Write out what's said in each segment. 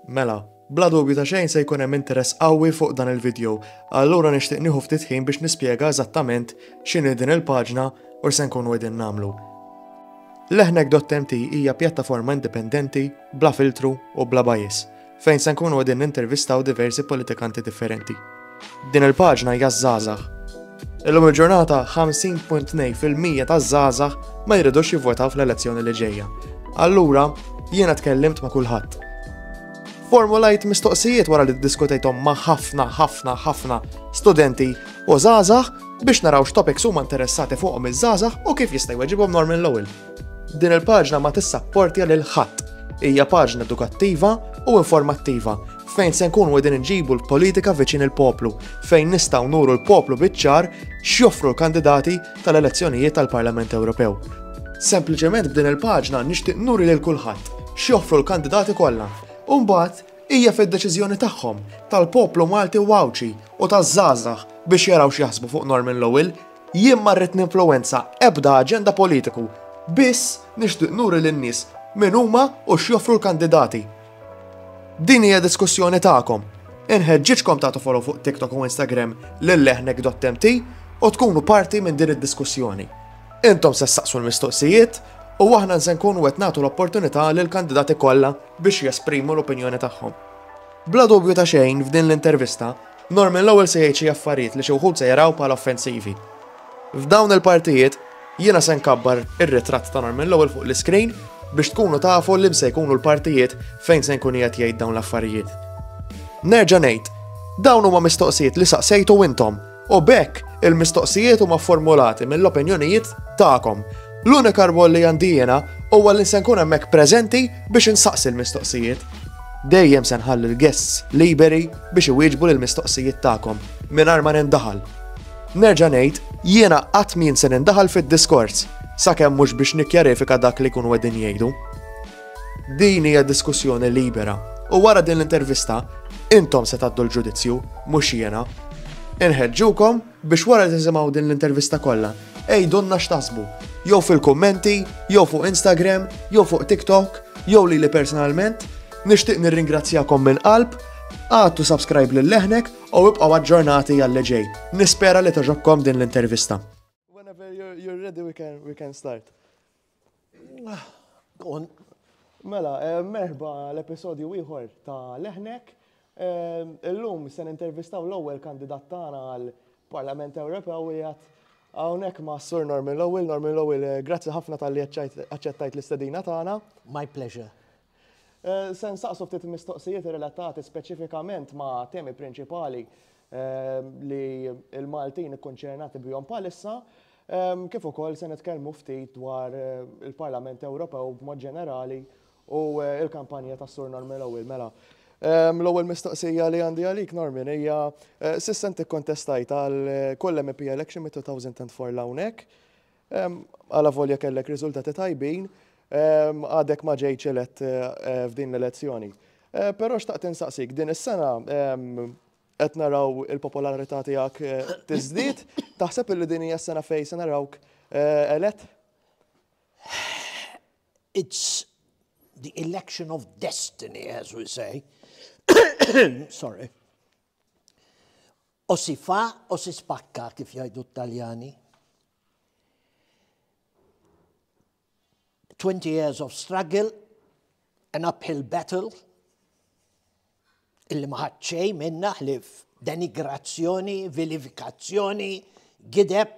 Mela, bla dubju ta' xejn se jkun hemm interess qawwi fuq dan il-vidjow, allura nixtieq nieħu ftit ħin biex nispjega eżattament x'inhi din il-paġna u x'se nkunu qegħdin nagħmlu. Lehnec.mt hija pjattaforma indipendenti, bla filtru u bla bias, fejn se nkunu qegħdin nintervistaw diversi politikanti differenti. Din il-paġna hija żgħażagħ. Illum il-ġurnata 50.2% taż-żgħażagħ ma jridux jivvotaw fl-elezzjoni li ġejja. Allura, jiena tkellimt ma' kulħadd. Formulajt mistoqsijiet wara li diskutejthom ma' ħafna, ħafna, ħafna studenti u żgħażagħ biex naraw x'topics huma interessati fuqhom iż-żgħażagħ u kif jista' jweġibhom Norman Lowell. Din il-paġna ma tissapportja lil ħadd. Hija paġna edukattiva u informattiva fejn se nkunu qegħdin inġibu l-politika viċin il-poplu, fejn nistgħu nuru l-poplu biċ-ċar x'joffru l-kandidati tal-elezzjonijiet tal-Parlament Ewropew. Sempliċement b'din il-paġna nixtieq nuri lil kulħadd x'joffru l-kandidati kollha. U mbagħad hija fid-deċiżjoni tagħhom tal-poplu Malti u Għawdxi u taż-żgħażagħ biex jaraw x'jaħsbu fuq Norman Lowell. Jien ma rrid ninfluwenza ebda aġenda politiku, biss nixtieq nuri lin-nies min huma u x'joffru l-kandidati. Din hija diskussjoni tagħkom. Inħeġġiġkom tagħtu follow fuq TikTok u Instagram lil leħnek.mt u tkunu parti minn din id-diskussjoni. Intom se saqsu l-mistoqsijiet u aħna se nkunu qed nagħtu l-opportunità lil kandidati kollha biex jesprimu l-opinjoni tagħhom. Bla dubju ta' xejn f'din l-intervista, Norman l-ewwel se jgħid xi affarijiet li xi wħud se jaraw bħala offensivi. F'dawn il-partijiet, jiena se nkabbar ir-ritratt ta' Norman l-ewwel fuq l-iscreen biex tkunu tafu liem se jkunu l-partijiet fejn se nkun qiegħed jgħid dawn l-affarijiet. Nerġa' ngħid, dawn huma mistoqsijiet li saqsejtu intom u b'hekk il-mistoqsijiet huma fformulati mill-opinjonijiet tagħkom. L-unika rwol li għandi jiena huwa li se nkun hemmhekk preżenti biex insaqsi l-mistoqsijiet. Dejjem se nħalli l-guests liberi biex iwieġbu lill-mistoqsijiet tagħkom mingħajr ma nindaħal. Nerġa' ngħid, jiena qatt m'jien se nindaħal fid-diskors, sakemm mhux biex nikkjarifika dak li jkunu qegħdin jgħidu. Din hija diskussjoni libera, u wara din l-intervista, intom se tgħaddu l-ġudizzju, mhux jiena. Inħeġġukom biex wara li tisimgħu din l-intervista kollha, għidulna x'taħsbu, jew fil-kummenti, jew fuq Instagram, jew fuq TikTok, jew lili personalment, nixtieq nirringrazzjakom minn qalb, għadtu subscribe lil leħnek U ibqgħu aġġornati għalli ġej. Nispera li toġobkom din l-intervista. Whenever you're ready we can, we can start. Ah, mela, eh, merħba l-episodju ieħor ta' Leħnek. Eh, illum se nintervistaw l-ewwel kandidat tagħna għal Parlament Ewropew u jgħat Għawnek ma' Sur Norman Lowell, Norman Lowell, eh, grazzi ħafna tal-li għacċettajt l-istedina tagħna. My pleasure. Se nsaqsu ftit mistoqsijiet relatati speċifikament ma' temi prinċipali li l-Maltin ikkonċernati bihom bħalissa, kif ukoll se nitkellmu ftit dwar il-Parlament Ewropew b'mod ġenerali u l-kampanja tas-Sur Normi Lowell. Mela, l-ewwel mistoqsija li għandi għalik, Normi, hija s'issa inti kkontestajt għal kull MEP election mit-2004 'l hawnhekk. Alavolja kellek riżultati tajbin, għadek ma ġejtx elett eh, f'din l-elezzjoni. Eh, però xtaqt insaqsik, din is-sena qed naraw il-popolarità tiegħek eh, tiżdied, taħseb li din hija s-sena fejn se narawk elett? It's the election of destiny, as we say. Sorry. O si fa o si spacca kif jgħidu t-Taljani. Twenty years of struggle, an uphill battle, illi maħat xej minna ħlif denigrazzjoni, vilifikazzjoni, gideb.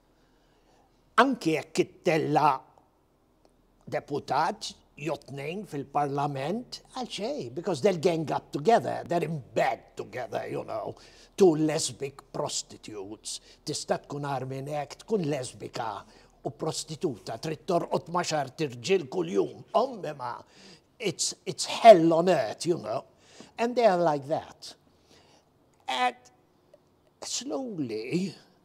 Anki jekk ittella' deputat jew tnejn fil-Parlament, għal xejn, because they'll gang up together, they're in bed together, you know, two lesbic prostitutes, tista' tkun agħar minn hekk, tkun lesbika u prostituta, trid torqod ma' xart irġiel kuljum, ommema, it's, it's hell on earth, you know, and they are like that. And slowly,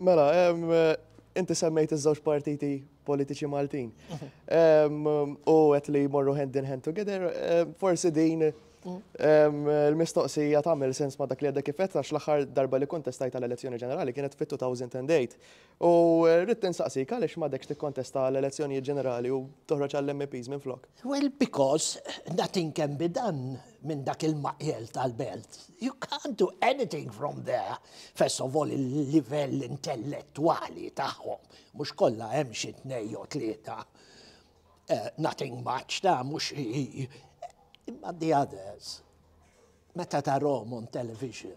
Mela, inti semmejt iż-żewġ partiti politiċi Maltin. U għet li morru hand in hand together, forsi din il-mistoqsija tagħmel sens ma' dak li għadda kifet għax l-aħħar darba li kontestajt għal elezzjoni ġenerali kienet fit-2008 U rrid insaqsik għaliex m'għadekx tikkontesta għall-elezzjonijiet ġenerali u toħroġ għall-MEPs minflok? Well, because nothing can be done minn dak il-maqjel tal-belt. You can't do anything from there. First of all, il-livell intellettwali tagħhom, mhux kollha hemm xi tnej jew tlieta. Eh, nothing much ta' mhux imma the others. Meta tarhom on television,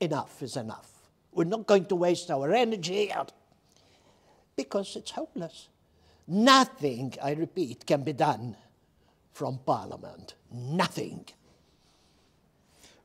Enough is enough. We're not going to waste our energy because it's hopeless. Nothing, I repeat, can be done from Parliament. Nothing.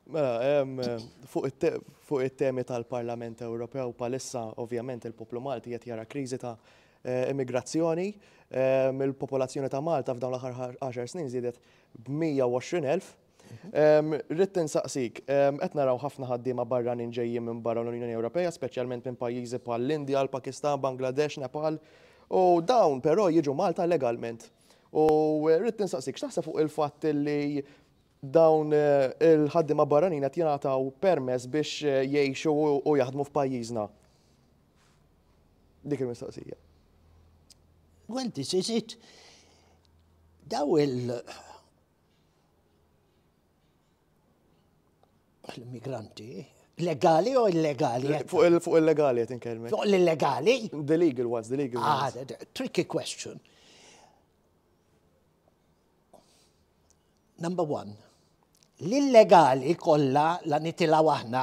Mela, eh, fuq it-temi tal-Parlament Ewropew palissa, ovvjament, il-poplu Malti qed jara kriżi ta' eh, immigrazzjoni. Eh, il-popolazzjoni ta' Malta f'dawn l-aħħar 10 snin żiedet b'120,000 Ridt insaqsik, qed naraw ħafna ħaddiema barranin ġejjin minn barra l-Unjoni Ewropea, speċjalment minn pajjiżi bħall-Indja, l-Pakistan, Bangladesh, Nepal, u dawn però jiġu Malta legalment. U ridt insaqsik, x'taħseb fuq il-fatt li dawn il-ħaddiema barranin qed jingħataw permess biex jgħixu u jaħdmu f'pajjiżna? Dik il-mistoqsija. Well, this is it. Daw il- l-immigranti legali u illegali. Fuq illegali qed inkellmek. Fuq l-illegali? The legal ones, the legal ah, ones. Ah, tricky question. Number one, l-illegali kollha la nitilaw aħna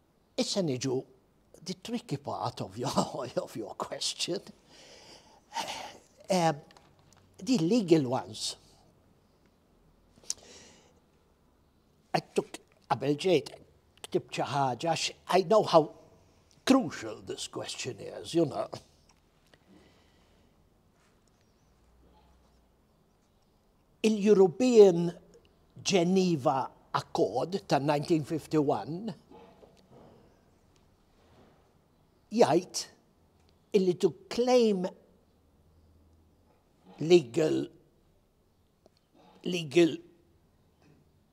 Issa niġu the tricky part of your, of your question. Uh, the legal ones. I took qabel ġejt ktibt xi ħaġa I know how crucial this question is, you know. Il-European Geneva Accord tan-1951 jgħid illi to claim legal legal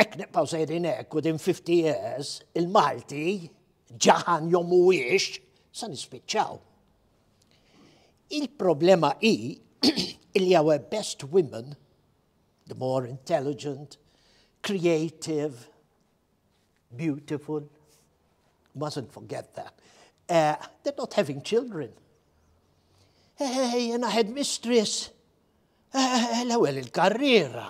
Hekk nibqgħu sejrin hekk u din 50 years il-Malti ġaħan jom mhuwiex sa nispiċċaw. Il-problema hi li our best women, the more intelligent, creative, beautiful, mustn't forget that, uh, they're not having children. Hey, jena headmistress, eh, l-ewel il-karriera.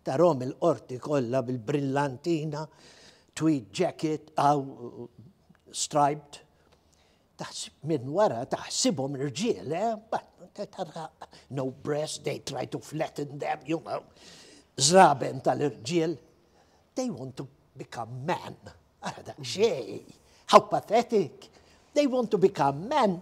Tarahom il-qorti kollha bil-brillantina, tweed jacket, aw striped. Taħsib minn wara taħsibhom rġiel, eh? No breast, they try to flatten them, you know. Zraben tal-irġiel. They want to become men. Ara da xej. How pathetic. They want to become men.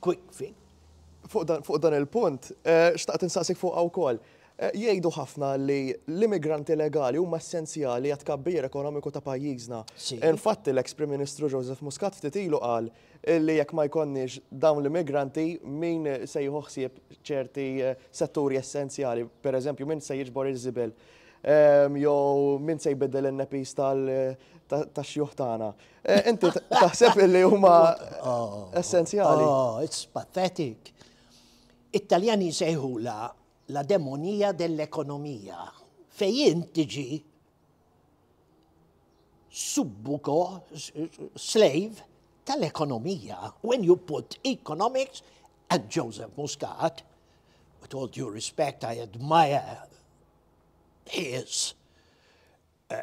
Quick fix. Fuq dan il-punt, xtaqt insaqsik fuqha wkoll. Jgħidu ħafna li l-immigranti legali huma essenzjali għat-tkabbir ekonomiku ta' pajjiżna. Infatti l-eks Prim Ministru Joseph Muscat ftit ilu qal li jekk ma jkollniex dawn l-immigranti min se jieħu ħsieb ċerti setturi essenzjali, pereżempju min se jiġbor iż-żibel jew min se jbiddel in-nepis tax-xjuħ tagħna. Eh, inti taħseb li huma oh, essenzjali. Oh, it's pathetic. Italjani sejħula la demonija dell-ekonomija. Fejn tiġi subbuko, slave tal-ekonomija. When you put economics and Joseph Muscat, with all due respect, I admire his uh,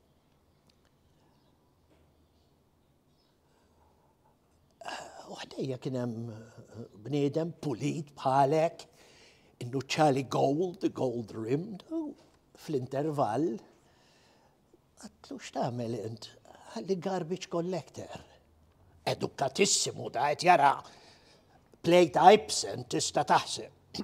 U ħdejja kien hemm eh, bniedem pulit bħalek, innuċċali gold, gold rimmed, fl-intervall, għatlu x'tagħmel int, għalli garbage collector. Edukatissimu da qed jara plate Ibsen tista' taħseb.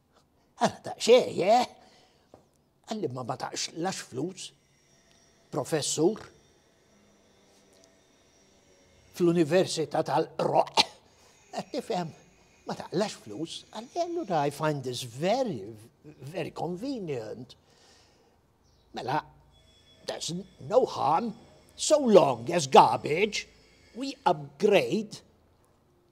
Għala ta' xej, eh? Għalli ma bataqx lax flus, professur, fl-Università tal-Roq, għat tifhem, ma taqlax flus, għalli għallu I find this very, very convenient. Mela, there's no harm, so long as garbage, we upgrade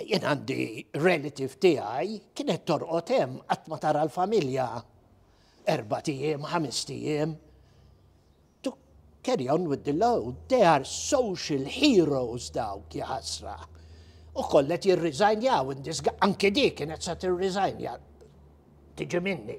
jien għandi relative tiegħi kienet torqod hemm qatt ma tara l-familja erba' tiem, ħames tiem. To carry on with the load, they are social heroes dawk jħasra. U kollet jirriżajnjaw indisga, anke dik kienet sa tirriżajnja tiġi minni.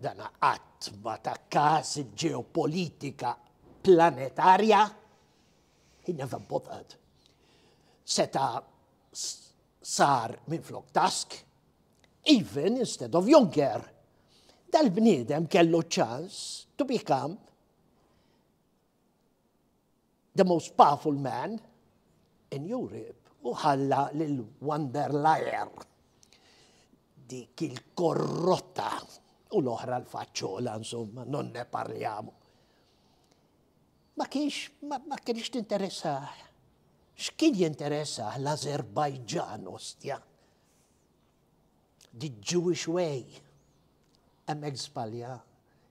Dan qatt ma ta każ il-ġeopolitika planetarja, he never bothered. Seta sar minn flok task, even instead of Juncker. Dal-bniedem kellu ċans to become The most powerful man in Europe u ħalla lil Van der Leyen dik il-korrotta u l-oħra l-faċċola insomma non ne parliamo. Ma kienx ma kienx tinteressa x'kien jinteressa l-Azerbajġan ostja. The Jewish way. Hemmhekk żbalja.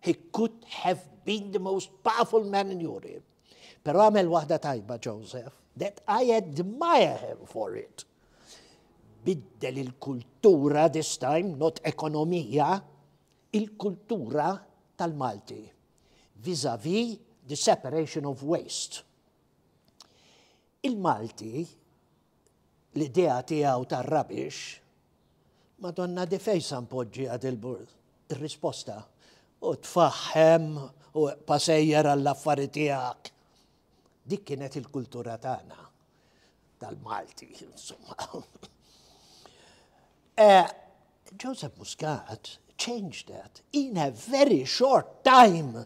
He could have been the most powerful man in Europe. Pero għamel waħda tajba Joseph, that I admire him for it. Biddel il-kultura this time, not ekonomija, il-kultura tal-Malti vis-a-vis the separation of waste. Il-Malti l-idea tiegħu tar-rabix, Madonna di fejn sa npoġġiha dil-burs? Ir-risposta, u tfaħħem u eqpa' sejjer għall-affari tiegħek. Dik kienet il-kultura tagħna tal-Malti, insomma. Eh, Joseph Muscat changed that in a very short time.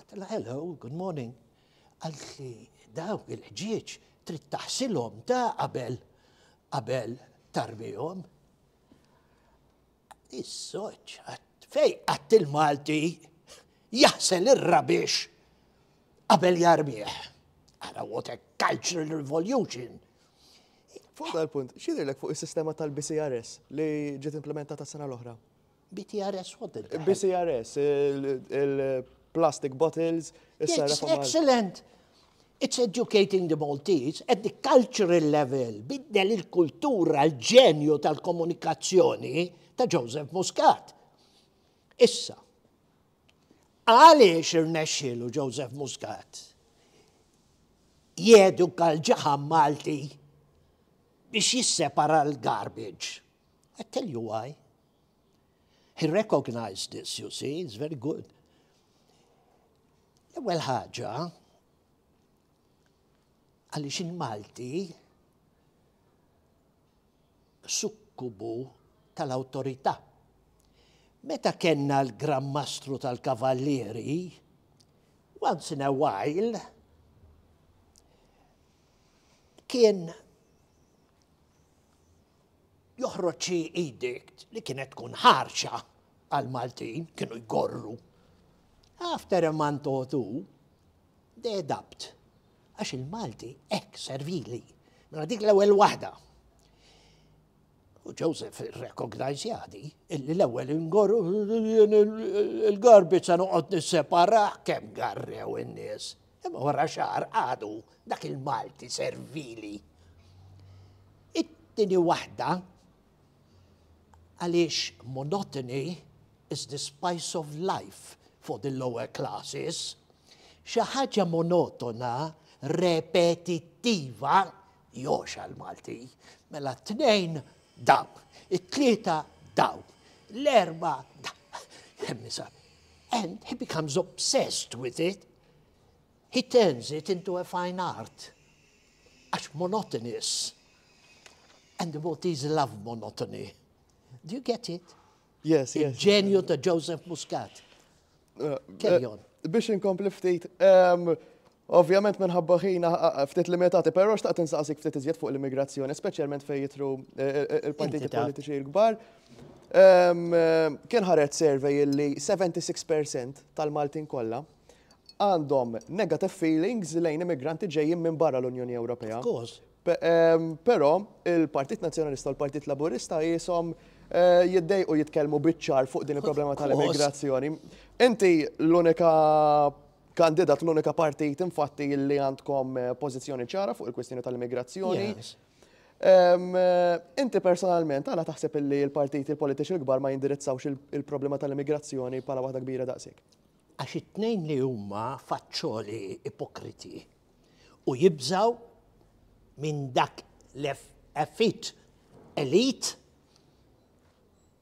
Għatla hello, good morning. Għalt li dawk il-ħġieġ trid taħsilhom ta' qabel qabel tarbihom. Is-soċ, fej għatt il-Malti jaħsel ir-rabix qabel jarbieħ. Għara what a cultural revolution. Fuq dal-punt, xidilek fuq il-sistema tal-BCRS li ġiet implementata s-sena l-oħra? BTRS, what did that? BCRS, il-plastic bottles. It's excellent. It's educating the Maltese at the cultural level, biddel il-kultura, l-ġenju tal-komunikazzjoni ta' Joseph Muscat. Issa, għaliex irnexxielu Joseph Muscat jedu kal-ġaħam Malti biex jissepara l-garbage. I tell you why. He recognized this, you see, it's very good. L-ewwel ħaġa, għaliex il-Malti sukkubu tal-awtorità. Meta kenna l-Gran Mastru tal-Kavallieri, once in a while, kien joħroġ xi edict li kienet tkun ħarxa għal Maltin kienu jgorru. After a month or two, they adapt. Għax il-Malti ek servili. Mela dik l-ewwel waħda. U Joseph recognize jadi, illi l-ewwel ingorru il-garbi sa noqgħod nissepara kemm garrew in-nies. Imma wara xahar għadu dak il-Malti servili. It-tieni waħda għaliex monotony is the spice of life for the lower classes. Xi ħaġa monotona, repetittiva, Joxa l-Malti. Mela t-tnejn daw, it-tlieta daw, l-erba daw. Hemmisa. And he becomes obsessed with it. He turns it into a fine art. Għax monotonous. And the Maltese love monotony. Do you get it? Yes, yes. Il-ġenju ta' Joseph Muscat. Uh, Carry uh, on. Biex inkompli ftit, um, Ovvjament minħabba ħin ftit limitati, però xtaqt insaqsik ftit iżjed fuq l-immigrazzjoni, speċjalment fejn jitru il-partiti politiċi l-kbar. Kien ħareġ survey li 76% tal-Maltin kollha għandhom negative feelings lejn immigranti ġejjin minn barra l-Unjoni Ewropea. Però il-Partit Nazzjonalista u l-Partit Laburista jisom Eh, jiddej u jitkellmu biċċar fuq din il-problema tal-immigrazzjoni. Inti l-unika kandidat l-unika partit infatti li għandkom eh, pożizzjoni ċara fuq il-kwistjoni tal-immigrazzjoni. Eh, inti personalment għala taħseb li l-partiti l-politiċi l-kbar ma jindirizzawx il-problema tal-immigrazzjoni bħala waħda kbira daqsik? Għax it-tnejn li huma faċċoli ipokriti u jibżaw minn dak l-effit elit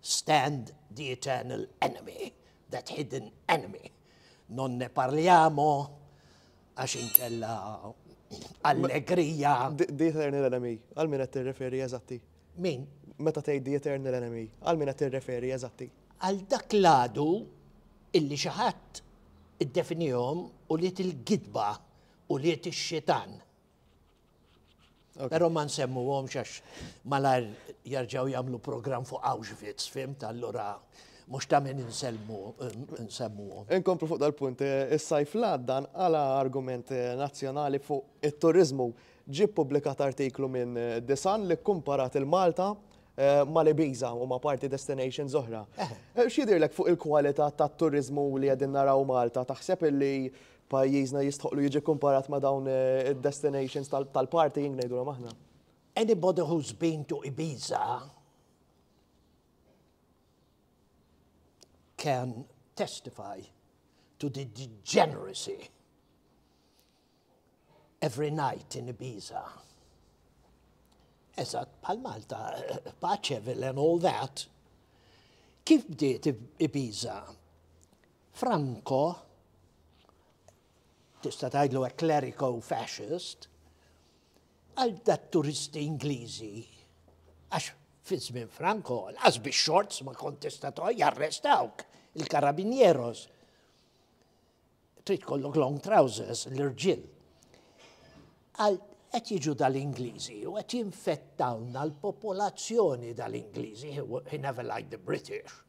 Stand the eternal enemy, that hidden enemy. Non ne parliamo, għax inkella allegrija. The eternal enemy, għal min qed tirreferi eżatti? Min? Meta tgħid the eternal enemy, għal min qed tirreferi eżatti? Għal dak l-għadu illi xi ħadd iddefinihom u liet il-gidba u liet ix-xitan. Pero ma nsemmu għom xax malar jarġaw jamlu program fuq Auschwitz, fim tal-lura mux ta' minn nsemmu għom. Inkomplu fuq dal-punt, eh, il-sajf l-għaddan għala argument eh, nazjonali fuq il-turizmu ġi publikat artiklu minn eh, Disan li kumparat il-Malta ma li biza u ma parti destination zohra. Xidirlek fuq il-kualita ta' turizmu li għedin naraw Malta, taħseb li Pajjiżna jistħoqlu jiġi kkumparat ma' dawn id-destinations tal-partying ngħidulhom aħna. Anybody who's been to Ibiza can testify to the degeneracy every night in Ibiza. Eżat, pal Malta, paċevil and all that. Kif bdiet Ibiza? Franco, tista' tgħidlu hekk kleriku fascist, għal dat-turisti Ingliżi għax fi żmien Franco l-qas bix-xorts ma kont tista' toqgħod jarrestawk il-karabinjeros. Trid kollok long trousers l-irġiel. Għal qed jiġu dal-Ingliżi u qed jinfettawna l-popolazzjoni dal-Ingliżi, he never liked the British.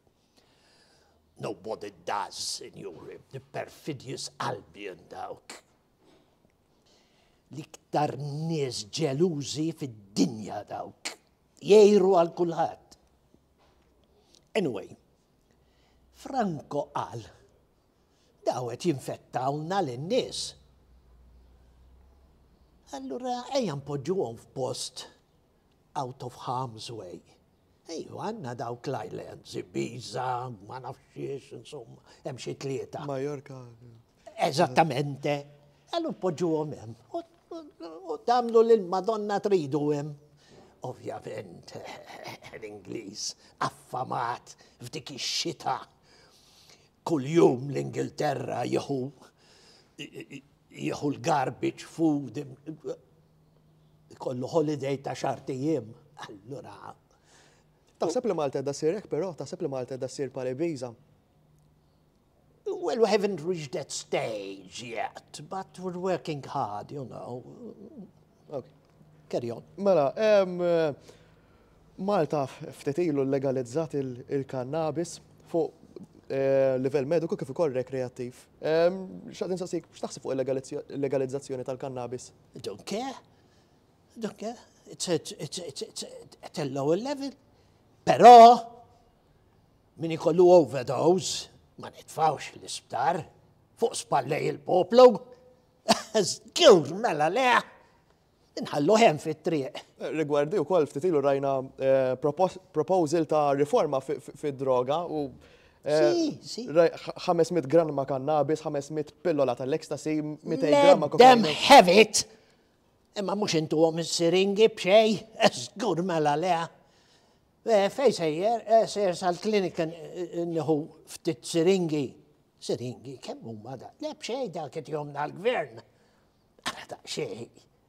Nobody does, sinjuri, the perfidious Albion dawk. L-iktar nies ġelużi fid-dinja dawk. Jgħiru għal kulħadd. Anyway, Franco qal, dawet jinfettawna l-nies. Allura ejja npoġġuhom f'post out of harm's way. Ejju, għanna dawk l-islands, Ibiza, ma nafx xiex, insomma, hemm xi tlieta. Majorka. Eżattamente. Għallu poġġuhom hemm. U damlu lil Madonna tridu hemm. Ovvjament, l-Ingliż affamat f'dik ix-xita. Kuljum l-Ingilterra jieħu jieħu l-garbage food jkollu holiday ta' xahrt ijiem, allura. Taħseb li Malta qiegħda ssir hekk però? Taħseb li Malta qiegħda ssir bħal Ibiza? Well, we haven't reached that stage yet, but we're working hard, you know. Okay. Carry on. Mela, um, Malta ftetilu legalizzat il-kannabis fuq eh, livell mediku kif ukoll rekreattiv. X'għad insaqsik x'taħseb fuq il-legalizzazzjoni tal-kannabis I don't care. I don't care. It's, it's, it's, it's, it's, it's at a lower level. Però, min ikollu overdose, ma nitfawx l-isptar, fuq spallej il-poplu, zgur mela leħ, inħallu hemm fit-triq. Rigwardi u koll ftitilu rajna eh, proposal ta' riforma fid-droga u 500 gramma kannabis, 500 pillola tal-ecstasy, 200 gramma kokaina. Dem hevit! Imma mux intu għom siringi bxej, esgur mela lea. Eh, fej sejjer, eh, sejjer sal-klinika eh, nħu ftit siringi. Siringi, kemm huma da? Le bxej da kiet jomna l-gvern. Għara da xej.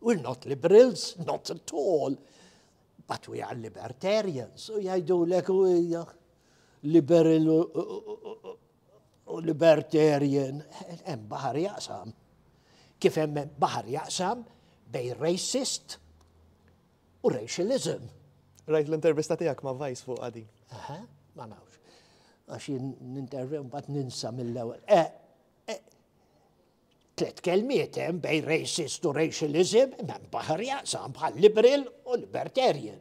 We're not liberals, not at all, but we are libertarians. U jajdu l-ek u liberal u libertarian, hemm baħar jaqsam. Kif hemm baħar jaqsam bej racist u racialism. Rajt l-intervista tiegħek ma' Vice fuq għadi. Aha, ma nafx. Għax jien nintervi mbagħad ninsa mill-ewwel. Eh, eh, Tliet kelmiet hemm bejn racist u racialism, m'hemm baħar jaqsam bħal liberal u libertarian.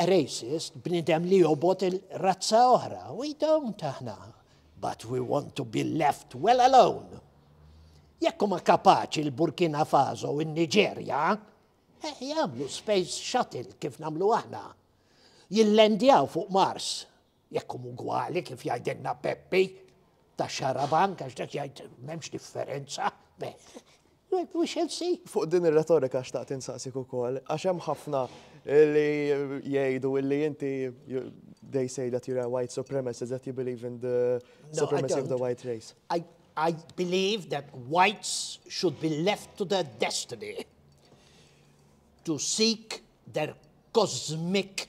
A racist, bnidem li jobot il-razza oħra, we don't aħna, but we want to be left well alone. Jekk huma kapaċi l-Burkina Faso u n-Niġerja, eh, jagħmlu space shuttle kif nagħmlu aħna. Jillendjaw fuq Mars Jekk hum ugwali kif jgħidilna Peppi ta' xarabank għax dak jgħid m'hemmx differenza. We shall see. Fuq din ir-retorika xtaqt insaqsik ukoll, għax hemm ħafna li jgħidu illi inti they say that you're a white supremacist that you believe in the supremacy no, of the white race. I, I believe that whites should be left to their destiny to seek their cosmic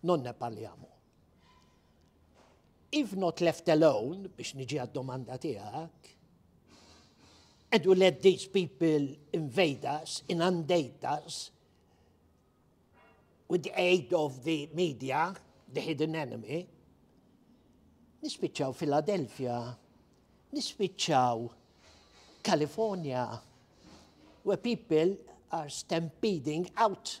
Non ne parliamo. If not left alone, biex niġi għad-domanda tiegħek, and you let these people invade us, inundate us, with the aid of the media, the hidden enemy, nispiċċaw Philadelphia, nispiċċaw California, where people are stampeding out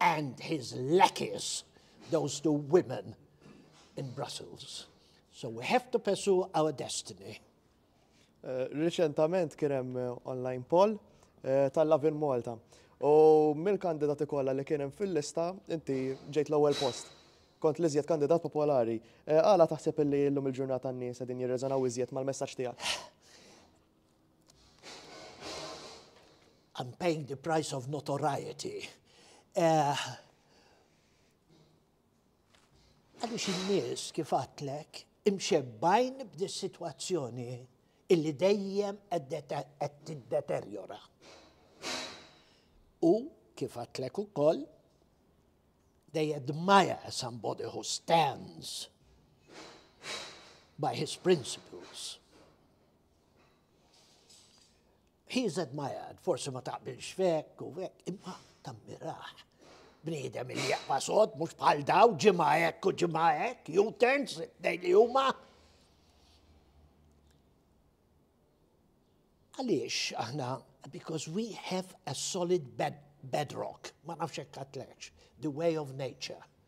and his lackeys, those two women in Brussels. So we have to pursue our destiny. Eh, Reċentament kien hemm eh, online poll eh, tal-Lavin Malta. U mill-kandidati kollha li kien hemm fil-lista, inti ġejt l-ewwel post. Kont li żjed kandidat popolari. Għala taħseb li llum il-ġurnata n-nies qegħdin jirreżonaw iżjed mal-messaġġ tiegħek? I'm paying the price of notoriety. Eh, għaliex uh, in-nies kif għatlek imxebbajn b'dis situazzjoni illi dejjem qed tiddeterjora. U kif għatlek ukoll, they admire somebody who stands by his principles. He said my ad, forsi ma taqbilx fek u fek, imma tammiraħ. Bniedem li jaqba sod, mux bħal daw, ġimma ek u ġimma ek, U-turns, dej li huma. Għaliex aħna, because we have a solid bed bedrock, ma nafx hekk the way of nature.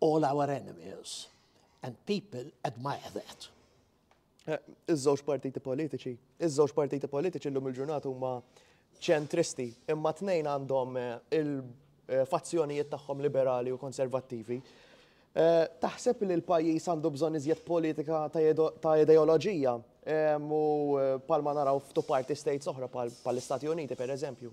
All our enemies and people admire that. Eh, iż-żewġ partiti politiċi, iż-żewġ partiti politiċi llum il-ġurnata huma ċentristi, imma tnejn għandhom eh, il-fazzjonijiet eh, tagħhom liberali u konservattivi. Eh, taħseb li l-pajjiż għandu bżonn iżjed politika ta' ideoloġija u palma naraw f'tu parti states oħra pal-Istati Uniti, per eżempju.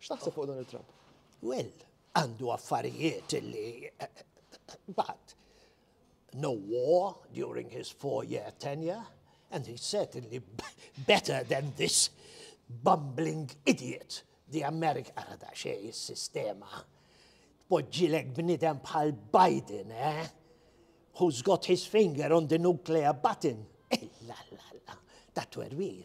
X'taħseb fuq Donald Trump? Well, għandu affarijiet li but no war during his four-year tenure and he certainly better than this bumbling idiot the America għada xej sistema Poġġilek bnidem bħal Biden, eh? Who's got his finger on the nuclear button? Illa, eh, la, la, ta' twerwir,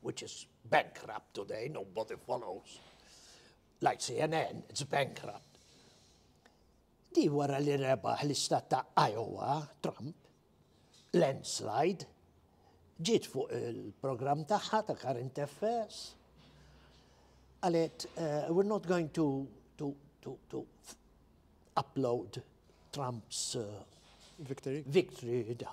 which is bankrupt today, nobody follows, like CNN, it's bankrupt. Di wara li rebaħ l-istat ta' Iowa, Trump, landslide, ġiet fuq il-program tagħha ta' current affairs, għalet, uh, we're not going to, to, to, to upload Trump's uh, victory. victory da.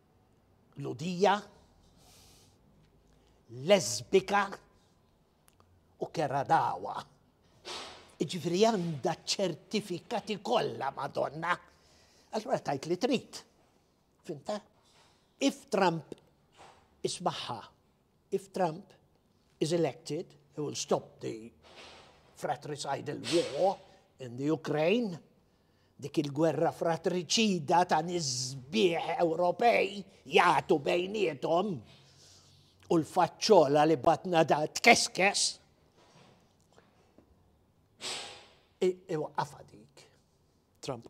Lhudija, Lesbika u Keradawa. Ġifri għandha ċertifikati kollha Madonna. Allura tajt li trid. Finta? If Trump ismaħħa If Trump is elected, he will stop the fratricidal war in the Ukraine, dik il-gwerra fratriċida ta' nisbieħ Ewropej jagħtu bejnietom u l-faċċola li batna da tkeskes. Iwaqqafa dik. Trump.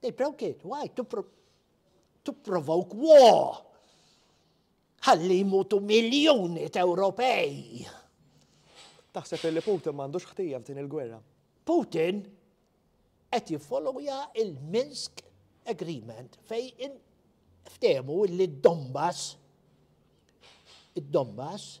They broke it. Why? To, pro to provoke war. Ħalli jmutu miljoni ta' Ewropej. Taħseb li Putin m'għandux ħtija f'din il-gwerra? Putin qed jiffollowja il-Minsk Agreement fej in ftemu li d-Donbass id-Donbass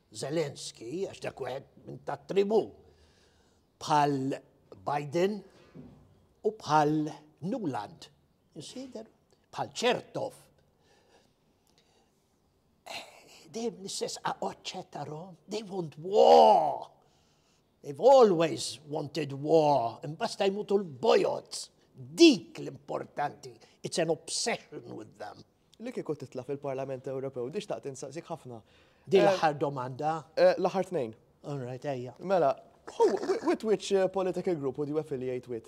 Zelensky, għax dak wieħed minn ta' tribu bħal Biden u bħal Nuland, insider, bħal Ċertov. Dejjem l-istess oċċetta rom, they want war. They've always wanted war, imbasta jmutu l-bojots, dik l-importanti, it's an obsession with them. Li kieku titla fil-Parlament Ewropew, di xtaqt insaqsik ħafna. Di eh, l-aħħar domanda? Eh, l-aħħar tnejn. All right, ejja. Mela, with which eh, political group would you affiliate with?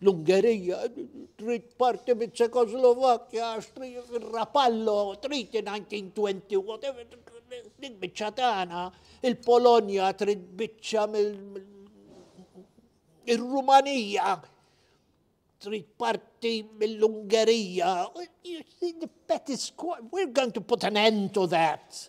L-Ungerija trid parti mit ċekoslovakkja għax trid ir-Rapallo, trid 1920, whatever, dik biċċa tagħna, il-Polonja trid biċċa mill ir-Rumanija trid parti mill-Ungerija. We're going to put an end to that.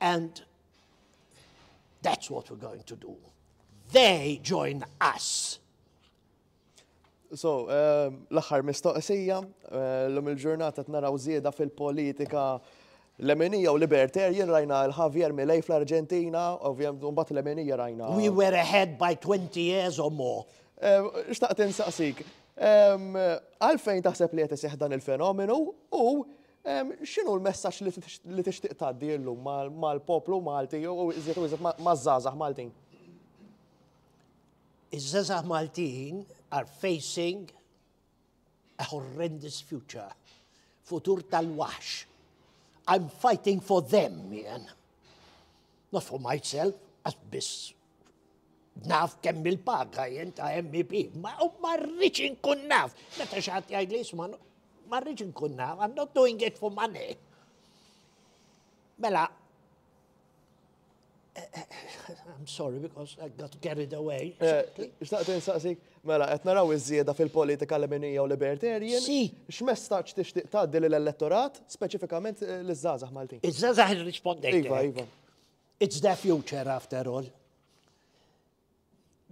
And that's what we're going to do. They join us. So, um, l-axar mistoqsija, uh, l-lum il-ġurnata t-naraw zieda fil-politika L-Emenija u Libertarian rajna l-Javier Milei fl-Argentina, ovvijament mbagħad l-Emenija rajna. We were ahead by 20 years or more. Eh, xtaqt insaqsik, għalfejn taħseb li qed dan il-fenomenu u X'inhu l-messaġġ li tixtieq tgħaddi llum mal-poplu Malti u iżjed u iżjed maż-żgħażagħ Maltin? Iż-żgħażagħ Maltin are facing a horrendous future. Futur tal-waħx. I'm fighting for them, jien. Not for myself, għax biss naf kemm il-paga jien ta' MEP, ma marriċ inkun naf. Meta xaħat jgħid li jisma, marriċ inkun naf, I'm not doing it for money. Mela, eh, eh, I'm sorry because I got carried away. Eh, xtaqt insaqsik, mela, qed naraw iż-żieda fil-politika leminija u libertarian. Si. X'messaġġ tixtieq tgħaddi lill-elettorat, speċifikament l-żgħażagħ Maltin? Iż-żgħażagħ irrispondejt. Iva, iva. It's the future after all.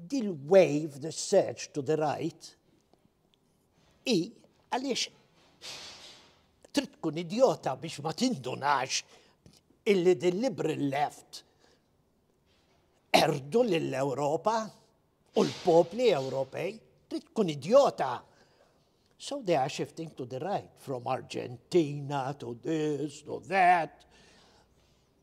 Dil wave, the surge to the right, i għaliex trid tkun idiota biex ma tindunax illi din liberal left erdu lill-Ewropa u l-popli Ewropej trid tkun idiota. So they are shifting to the right, from Argentina to this, to that.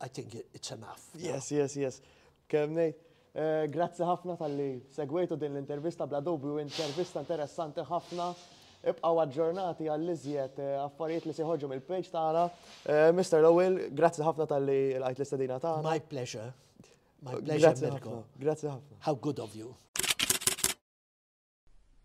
I think it's enough. Yes, yes, yes. Kem nejt. Eh, grazzi ħafna tal-li segwejtu din l-intervista bla dubju, intervista interessanti ħafna. Ibqaw aġġornati għall-iżjed eh, affarijiet li siħoġu mill-page tagħna. Eh, Mr. Lowell, grazzi ħafna tal-li l-għajt l-istedina tagħna. My pleasure. My pleasure, Mirko. Grazzi ħafna. How good of you.